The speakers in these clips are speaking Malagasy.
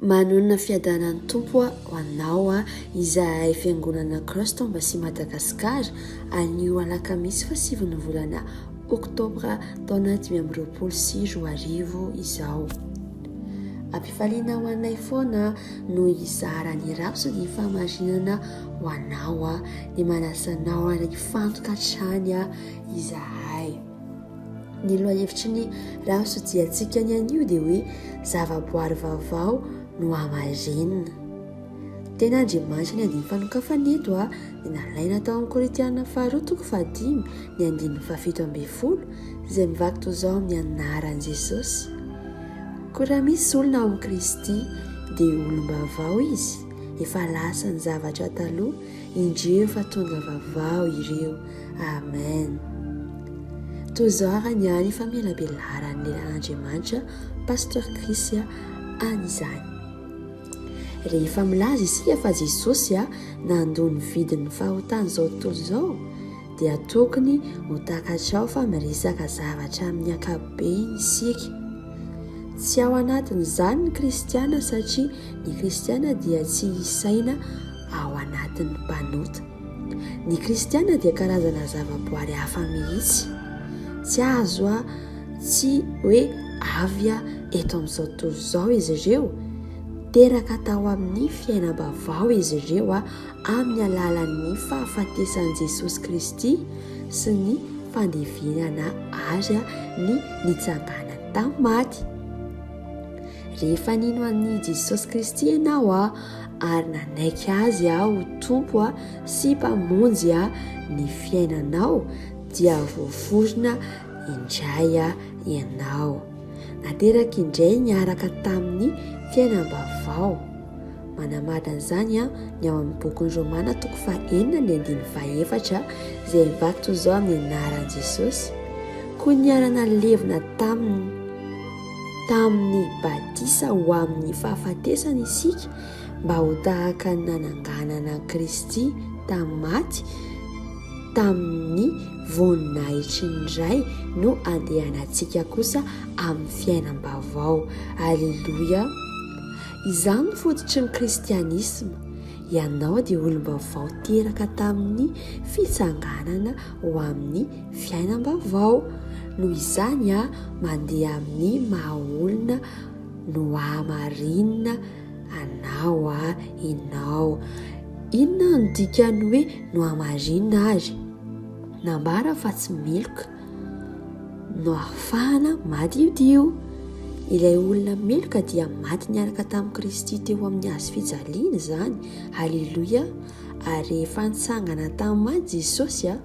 Manonona fiadanan'ny Tompo ho anao izahay Fiangonana Christ Embassy Madagascar anio alakamisy faha sivy ny volana oktobra taona dimy amby roapolo sy roa arivo izao. Ampifaliana ho anay foana no hizara ny rafy sy ny fahamarinana ho anao dia manasa anao hifantoka hatrany izahay. Ny lohahevitry ny rahasotsiantsika ny anio dia hoe zavaboary vaovao no hamarenina. Tena Andriamanitra ny andin'ny fanokafana eto a, dia nalaina tao amin'ny Korintiana faharoa toko fahadimy ny andininy fahafito ambin'ny folo izay mivaky toy izao amin'ny anaran'i Jesosy. Koa raha misy olona ao amin'i Kristy dia olom-baovao izy, efa lasa ny zavatra taloha. Indrio fa tonga vavao ireo. Amen. Toy izao ary ny ahy fa melabelaran'ny lelan'Andriamanitra Pasteur Chris an'izany. Rehefa milaza isika fa Jesosy nandoa ny vidin'ny fahotan'izao tontolo izao dia tokony ho takatrao fa miresaka zavatra amin'ny ankapobeny isika. Tsy ao anatin'izany ny kristiana satria ny kristiana dia tsy isaina ao anatin'ny mpanota. Ny kristiana dia karazana zavaboary hafa mihitsy. Tsy azo a tsy hoe avy a eto amin'izao tontolo izao izy ireo. Teraka tao amin'ny fiainam-baovao izy ireo a amin'ny alalan'ny fahafatesan'i Jesosy Kristy sy ny fandevenana azy a ny nitsanganany tamin'ny maty. Rehefa nino an'i Jesosy Kristy ianao a ary nanaiky azy aho ho Tompo sy Mpamonjy ny fiainanao dia voaforona indray ianao. Nateraka indray niaraka tamin'ny fiainam-baovao. Manamadina izany ny ao amin'ny bokin'ny Romana toko fahenina ny andininy fahefatra izay mivaky toy izao amin'ny anaran'i Jesosy, Koa niara-nalevina taminy. Tamin'ny batisa ho amin'ny fahafatesana isika mba ho tahaka ny nananganana an'i Kristy tamin'ny maty, tamin'ny voninahitry ny Ray no andehanantsika kosa amin'ny fiainam-baovao. Aleloia! Izany no fototry ny kristianisma. Ianao dia olom-baovao teraka tamin'ny fitsanganana ho amin'ny fiainam-baovao. Noho izany, mandeha amin'ny maha-olona nohamarinina anao ianao. Inona no dikan'ny hoe nohamarinina àry? Nambara fa tsy meloka. no ahafahana madiodio. Ilay olona meloka dia maty niaraka tamin'i Kristy teo amin'ny hazo fijaliana izany. Haleloia! Ary rehefa nitsangana tamin'ny maty Jesosy a,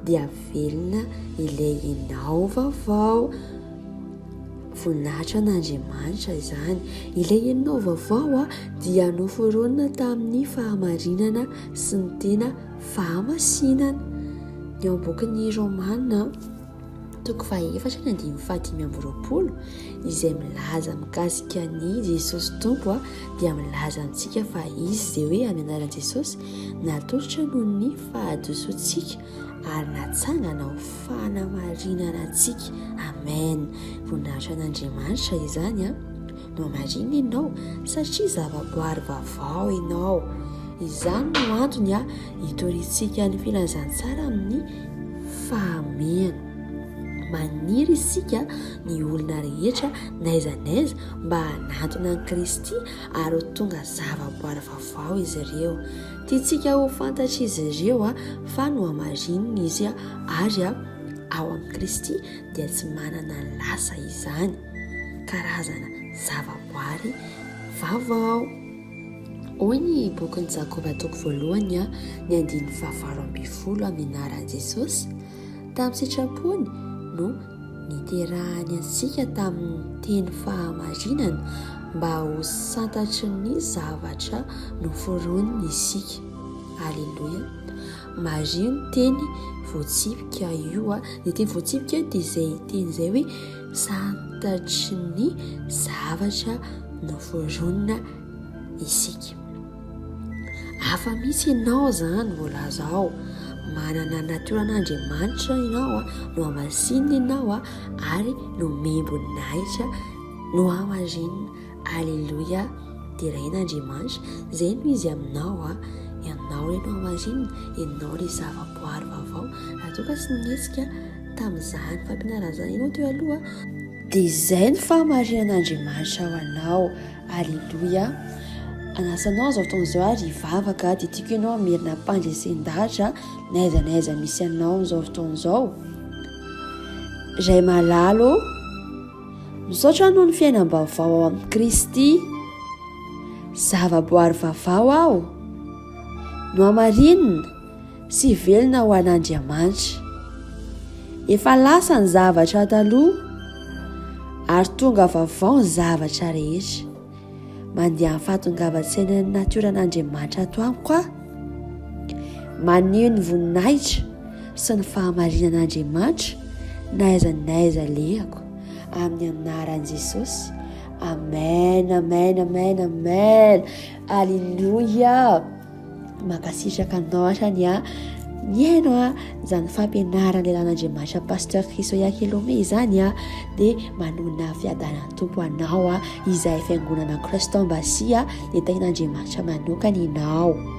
dia velona ilay enao vaovao. Voninahitra an'Andriamanitra izany. Ilay enao vaovao a, dia noforonina tamin'ny fahamarinana sy ny tena. fahamasinana. Ny ao am-bokin'ny Romana, toko fahaefatra ny andininy fahadimy amby roapolo, izay milaza mikasika an'i Jesosy Tompo dia milaza antsika fa izy izay hoe amin'ny anaran'i Jesosy natolotra noho ny fahadisoantsika ary natsangana ho fanamarinana antsika. Amen. Voninahitra an'Andriamanitra izany a. no marina ianao satria zavaboary vaovao ianao. Izany no antony ah itoriantsika ny filazantsara amin'ny fahamehana. Maniry isika ny olona rehetra n'aiza n'aiza mba hanantona an'i Kristy ary ho tonga zavaboary vaovao izy ireo. Tiantsika ho fantatr'izy ireo ah fa nohamarinina izy ah ary ah ao amin'i Kristy dia tsy manana lasa izany. karazana zavaboary vaovao. Hoy ny bokin'i Jakoba toko voalohany a, ny andininy fahavalo ambin'ny folo amin'ny anaran'i Jesosy, tamin'ny sitrapony no niterahany antsika tamin'ny teny fahamarinana mba ho santatry ny zavatra noforoniny isika. Aleloia. Mario ny teny voatsipika io a. Ny teny voatsipika io dia izay teny izay hoe Santatry ny zavatra noforonina isika. Afa-misy ianao izany voalaza ao, manana ny natoran'Andriamanitra ianao, nohamasinina ianao ary nomem-boninahitra, nohamarinina. Aleloia, deraina Andriamanitra, izay no izy aminao a, ianao re no hamarinina, ianao re zava-boary vaovao, raha toa ka tsy nihetsika tamin'izany fampianarana izany ianao teo aloha, dia izay no fahamarinan'Andriamanitra ho anao, aleloia, anasa anao izao fotoana izao ary hivavaka, dia tiako ianao hamerina am-pandresen-dahatra n'aiza n'aiza misy anao amin'izao fotoana izao, Ray malala ô. Misaotra noho ny fiainam-baovao ao amin'i Kristy. Zavaboary vavao aho. Nohamarinina sy velona ho an'Andriamanitra. Efa lasa ny zavatra taloha ary tonga vavao ny zavatra rehetra. Mandeha fahatongavan-tsainan'ny natioran'Andriamanitra ato amiko aho. Maneho ny voninahitra sy ny fahamarinan'Andriamanitra na aiza na aiza alehako amin'ny anaran'i Jesosy. Amen, amen, amen, amen. Alléluia. Mankasitraka anao hatrany a mihaino a izany fampianarana elan'Andriamanitra Pasteur Chrisoya Kelome izany a dia manona fiadanan'ny tompo anao a izay fiangonana Christ Embassy a dia tahin'Andriamanitra manokana ianao